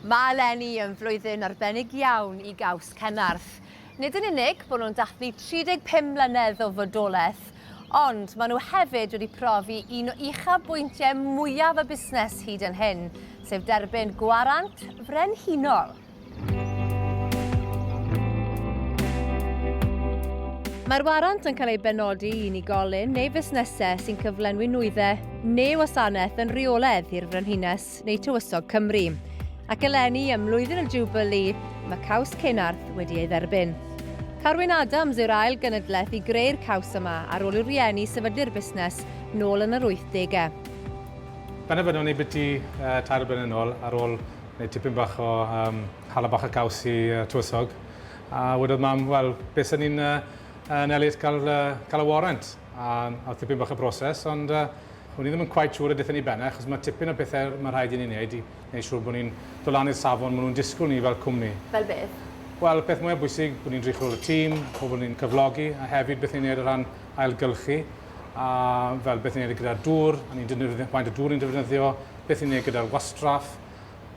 Mae eleni yn flwyddyn arbennig iawn i Gaws Cenarth. Nid yn unig bod nhw'n dathlu 35 mlynedd o fodolaeth, ond maen nhw hefyd wedi profi un o uchafbwyntiau mwyaf y busnes hyd yn hyn, sef derbyn Gwarant Frenhinol. Mae'r warant yn cael ei benodi i unigolyn neu fusnesau sy'n cyflenwi nwyddau neu wasanaeth yn rheoledd i'r Frenhines neu Tywysog Cymru. Ac eleni ym Mlwyddyn y Jubilee, mae caws Cenarth wedi ei dderbyn. Carwyn Adams yw'r ail gynadleth i greu'r caws yma ar ôl i'r rhieni sefydlu'r busnes nôl yn yr 80au. Benderfynwn i biti uh, tair yn ôl ar ôl Neu tipyn bach o um, hala bach o gaws i uh, tywysog. A wedodd mam, wel, beth sy'n ni'n uh, yn Elliot cael, uh, cael y warrant? A, a tipyn bach o broses, ond uh, O'n i ddim yn quite siŵr y dethon ni benne, achos mae tipyn o bethau mae rhaid i ni wneud i wneud siŵr bod ni'n dod lan i'r safon maen nhw'n disgwyl ni fel cwmni. Fel beth? Wel, peth mwyaf bwysig, bod ni'n drych ôl y tîm, pobl ni'n cyflogi, a hefyd beth ni'n gwneud o ran ailgylchu, a fel beth ni'n gwneud gyda'r dŵr, a ni'n defnyddio faint o dŵr ni'n defnyddio, beth ni'n ei gyda'r wastraff,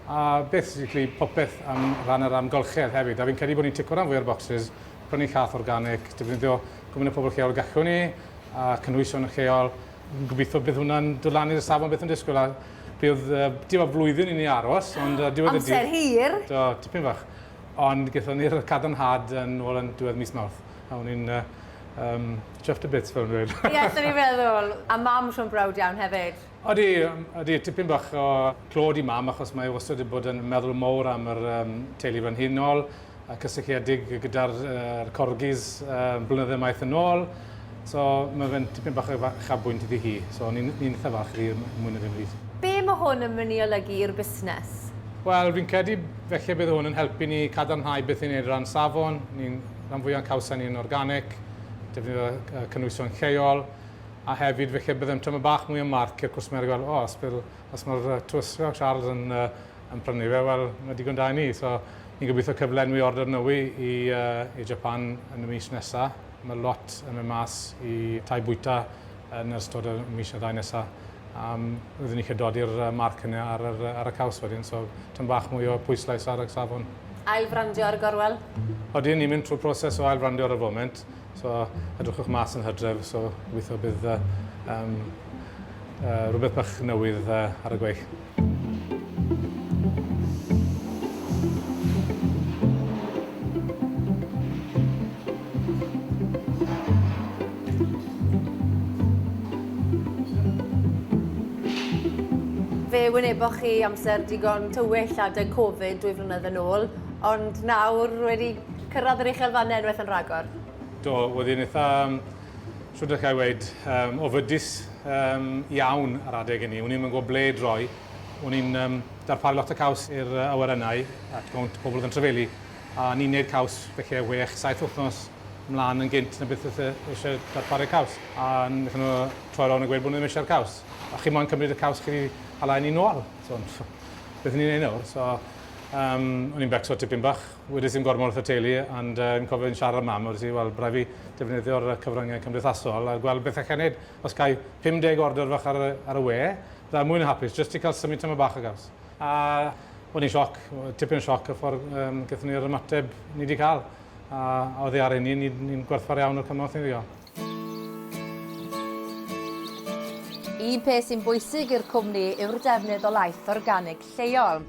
a basically popeth am ran yr amgylchedd hefyd. A fi'n credu bod ni'n tico ran fwy o'r boxes, prynu cath organic, defnyddio gwmyn y pobl lleol gallwn ni, a cynhwysion yn lleol. Fi'n gobeithio bydd hwnna'n dod lan i'r safon beth yn disgwyl. A bydd, uh, dim o flwyddyn i ni aros, ond uh, diwedd y dydd... Amser hir! Do, tipyn fach. Ond gyda ni'r cadarnhad yn ôl yn diwedd mis mawrth. A o'n i'n uh, um, chuffed a bits fel yn dweud. Ie, yes, ni'n meddwl. A mam Siôn Brawd iawn hefyd. Ydy, ydy, tipyn bach o clod i mam achos mae wastad wedi bod yn meddwl mowr am yr um, teulu frenhinol, a cysylltiedig gyda'r uh, corgis uh, blynydde maith yn ôl. So mae fe'n tipyn bach o chabwynt iddi hi. So ni'n ni eitha falch iddi mwy na ddim byd. Be mae hwn yn mynd i olygu i'r busnes? Wel, fi'n credu felly bydd hwn yn helpu ni cadarnhau beth ni'n ei ran safon. Ni'n rhan fwyaf cawsau ni'n organic, defnyddio cynwysion lleol, A hefyd felly byddem tymed bach mwy o marc i'r cwsmer i weld, o, os bydd, os mae'r yy Twrs fel Charles yn yy yn prynu fe, wel, mae digon da i ni. So, ni'n gobeithio cyflenwi ordr nywy i yy i Japan yn y mis nesa. Mae lot yn mynd mas i tai bwyta yn ystod y mis neu ddau nesa. A yym fyddwn ni isie dodi'r yy marc hynny ar yr yy ar y caws wedyn, so tymed bach mwy o pwyslais ar y safon. Ail-frandio ar y gorwel? Odyn, ni'n mynd trwy'r proses o ail-frandio ar y foment. So, edrychwch mas yn hydref, so gobeithio bydd uh, um, uh, rhywbeth bach newydd uh, ar y gweill. Fe wyneboch chi amser digon tywyll adeg Covid dwy flynedd yn ôl, ond nawr wedi Cyrraedd yr uchel fannau unwaith yn rhagor. Do, oedd hi'n eitha, shwt allai weud, um, ofydus um, iawn ar adeg inni. O'n i'n mynd gwybod ble droi. O'n i'n um, darparu lot o caws i'r uh, awyrennau at gawnt pobl oedd yn trefelu. A ni'n neud caws felly 6-7 wythnos mlaen yn gynt na beth oedd e eisiau darparu caws. A wnaethon nhw troi rownd a gweud bod nhw ddim eisiau'r caws. A chi moyn cymryd y caws chi wedi hala'n ni nôl. So, beth ni'n ei nawr? So, um, o'n i'n becso tipyn bach. Wedes i'm gormod wrth y teulu ond yy fi'n cofio fi'n siarad â mam a wedes i wel by rai' fi defnyddio'r yy cyfryngau cymdeithasol a gweld beth allai neud. Os gai 50 ordr fach ar y ar y we fyddai mwy na hapus jyst i ca'l symud tamaid bach o gaws. A o'n i'n sioc, tipyn o sioc y ffordd yym gethon ni yr ymateb ni 'di ca'l a a oddi ar ein hun ni'n ni'n gwerthfawr iawn o'r cymorth ni 'di ga'l. Un peth sy'n bwysig i'r cwmni yw'r defnydd o laeth organig lleol.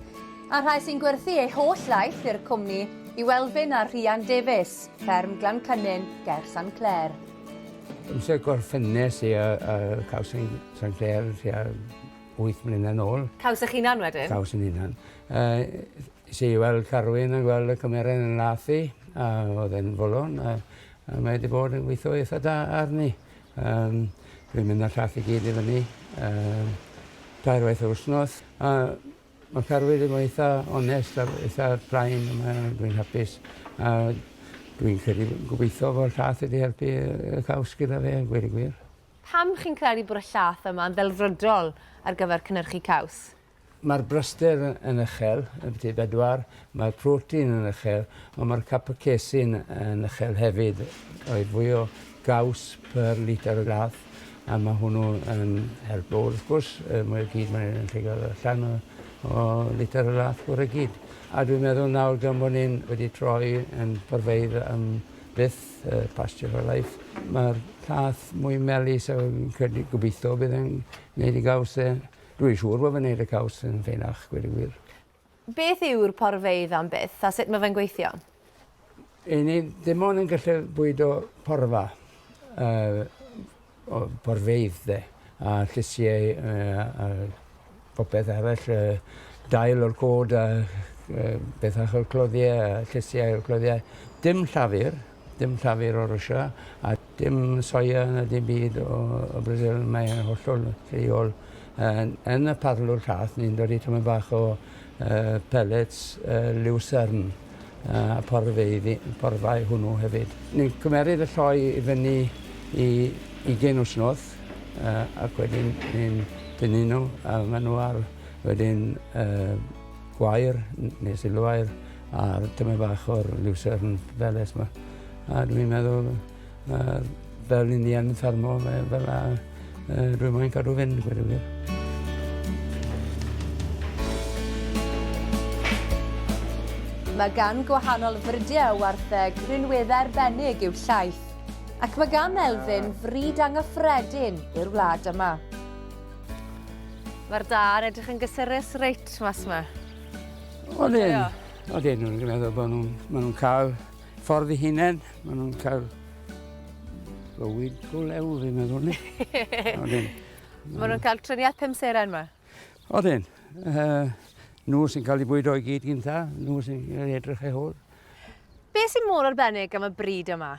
A'r rhai sy'n gwerthu eu holl laeth i'r cwmni yw Elfyn a Rhian Davies, fferm Glancynin ger San Clair. Amser gorffennes i ar y caws yn San Clair tua wyth mlynedd nôl. Caws eich hunan wedyn? Caws yn hunan. Yy Es i i weld Carwyn a gweld y cymeren yn lath i, a oedd e'n fwlon, a a mae 'di bod yn gweithio eitha da arni. Yym dwi'n mynd â'r llath i gyd i fyny yy tair waith yr wsnos, a ma' Carwyn 'di bod eitha onest a eitha plain a mae yy dwi'n hapus a dwi'n credu gobeithio fod y llath wedi helpu yy y caws gyda fe gweud y gwir. Pam chi'n credu bod y llath yma'n ddelfrydol ar gyfer cynyrchu caws? Mae'r braster yn uchel, yn byti bedwar, mae'r protein yn uchel, ond mae'r capacecin yn uchel hefyd, roedd fwy o gaws per litr o lath, a mae hwnnw yn helpo. Wrth gwrs, y mwy o gyd mae'n yn llegar allan o, o litr o lath gwr y gyd. A dwi'n meddwl nawr gan bod ni'n wedi troi yn porfeidd am byth, uh, pasture for life, mae'r llath mwy melus a fi'n credu gobeithio bydd e'n gwneud i gaws e Dwi'n siŵr fod fe'n neud y caws yn fenach, gweud y gwir. Beth yw'r porfeydd am byth a sut mae fe'n gweithio? I ni dim ond yn gallu bwydo porfa, uh, o, porfeydd de, a llysiau uh, a popeth arall, uh, dail o'r cod a uh, bethach o'r cloddiau a llysiau o'r cloddiau. Dim llafur, Dim llafur o Rwsia a dim soia na dim byd o o Brasil mae e'n hollol lleol yn yn y parlwr llath ni'n dodi tymed bach o yy pellets yy liwsarn yy a porfeydd i porfa i hwnnw hefyd. Ni'n cymeryd y lloi i fyny i ugen wsnos yy ac wedyn ni'n tynnu n'w a ma' n'w ar wedyn yy gwair n- ne' silwair A'r tymed bach o'r Lucerne Palace 'ma. A dwi'n meddwl yy fel i ni yn ffermo fe fel 'a yy dwi moyn cadw fynd gweud y gwir. Mae gan gwahanol frydie o wartheg rinweddau arbennig i'w llaeth, ac mae gan Elfyn fryd anghyffredin i'r wlad yma. Mae'r daear edrych yn gysurus reit mas 'ma. Odyn, odyn nhw'n dwi'n meddwl bod nhw'n ma' nhw'n cael ffordd i hunain, ma' nhw'n cael bywyd go lew fi'n meddwl ni. Odyn. Ma' nhw'n cael triniaeth pum seren ma? Odyn. Uh, nhw sy'n cael ei bwydo i gyd gynta, nhw sy'n cael ei edrych ei hôl. Be sy'n mor arbennig am y bryd yma?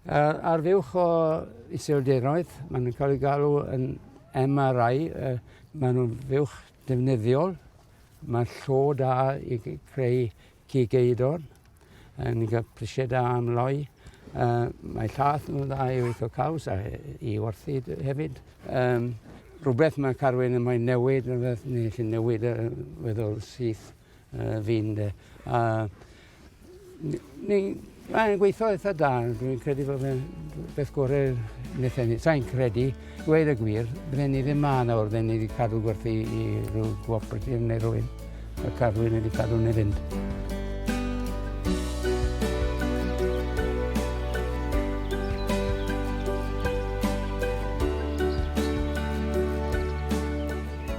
Uh, ar fuwch o iseldiroedd, maen nhw'n cael ei galw yn MRI, uh, maen nhw'n fuwch defnyddiol, Mae llo da i greu cig eidon. Yn ni'n cael prisiau da am loi. Uh, mae llath nhw'n dda i weithio caws a i warthu hefyd. Um, rhywbeth mae Carwyn yn moyn newid, rhywbeth ni eisiau newid uh, weddol syth uh, fi'n de. Uh, Mae'n gweithio eitha da, dwi'n credu bod fe'n beth gorau wnaeth enni. Sa'n credu, gweud y gwir, bydden ni ddim ma nawr, bydden ni wedi cadw gwerthu i rhyw cooperative neu rhywun. Y carwy'n wedi cadw neu fynd.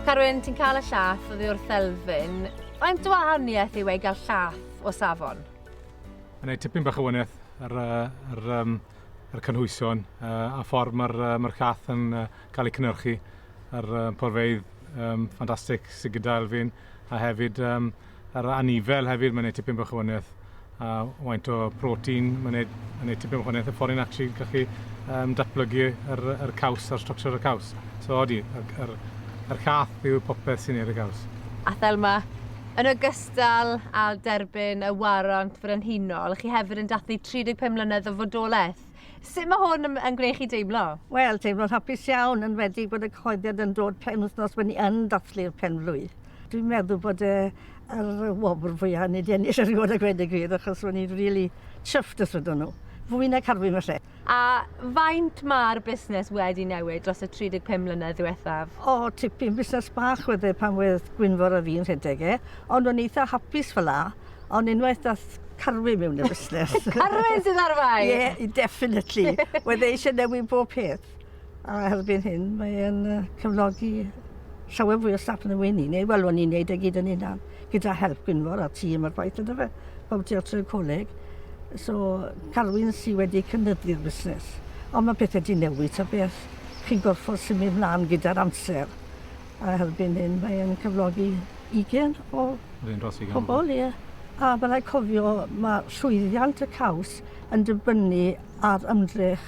Carwyn, ti'n cael y llath oddi wrth Elfyn. Faint o wahaniaeth yw ei gael llath o safon? Mae'n ei tipyn bach o wahaniaeth ar, ar, ar, ar cynhwysion uh, a ffordd mae'r uh, mae llath yn uh, cael ei cynnyrchu ar uh, porfeidd um, ffantastig sydd gyda Elfyn a hefyd um, ar anifail hefyd mae'n ei tipyn bach o wahaniaeth a faint o protein mae'n neud, yn neud tipyn o wahaniaeth y ffordd i'n actually gallu um, datblygu yr, yr caws a'r structure y caws. So odi, yr, yr, yr llath yw popeth sy'n neud y caws. A Thelma, yn ogystal â derbyn y warant frenhinol, chi hefyd yn dathlu 35 mlynedd o fodolaeth. Sut mae hwn yn gwneud chi deimlo? Wel, teimlo'n hapus iawn, yn wedi bod y cyhoeddiad yn dod pen wythnos bod ni yn dathlu'r penblwydd. Dwi'n meddwl bod e yr wobr fwyaf ni wedi ennill erioed a gweud y gwir, achos o'n i'n rili chuffed os wedon nhw. Fwy na carfwi falle. A faint mae'r busnes wedi newid dros y 35 mlynedd ddiwethaf? O, tipyn. Busnes bach wedd e pan wedd Gwynfor a fi'n rhedeg e, ond o'n eitha hapus fel 'a. Ond unwaith dath Carwyn mewn i'r busnes. Carwyn sydd ar fai? Ie, yeah, definitely. Wedd e eisiau newid bob peth. A erbyn hyn, mae'n cyflogi llawer fwy o staff yn y wyn i ni. Wel, o'n i'n neud e gyd yn unan, gyda help Gwynfor a tîm ar gwaith yna fe. Bob ti o'r coleg. So, Carwyn sydd wedi cynyddu'r busnes. Ond mae pethau di newid ta beth. Chi'n gorfod symud mlaen gyda'r amser. A erbyn hyn mae e'n cyflogi ugain o pobl, ie. A ma' raid cofio ma' llwyddiant y caws yn dibynnu ar ymdrech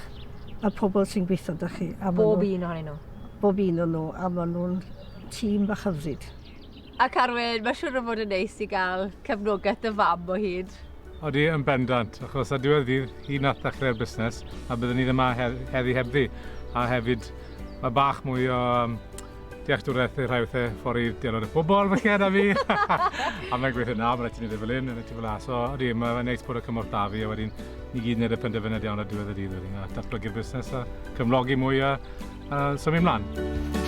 y pobl sy'n gweitho 'da chi a ma' nw... Bob un ohonyn nw? Bob un o nw a ma' nw'n tîm bach hyfryd. A Carwyn, ma' siŵr o fod yn neis i ga'l cefnogeth dy fam o hyd. Odi, yn bendant, achos ar diwedd y dydd, hi nath ddechrau'r busnes, a byddwn ni ddim yma heddi hebddi. A hefyd, mae bach mwy o um, dealltwriaeth i'r rhai wrthau ffordd i dealltwriaeth y pobol, felly yna fi. a mae'n gweithio na, mae'n rhaid i ni ddim fel hyn, mae'n rhaid i fel aso. Odi, mae'n neis bod y cymorth da fi, a wedyn ni gyd wneud y penderfyniad iawn ar diwedd y dydd wedyn, a datblygu'r busnes a cyflogi mwy a, a symud ymlaen.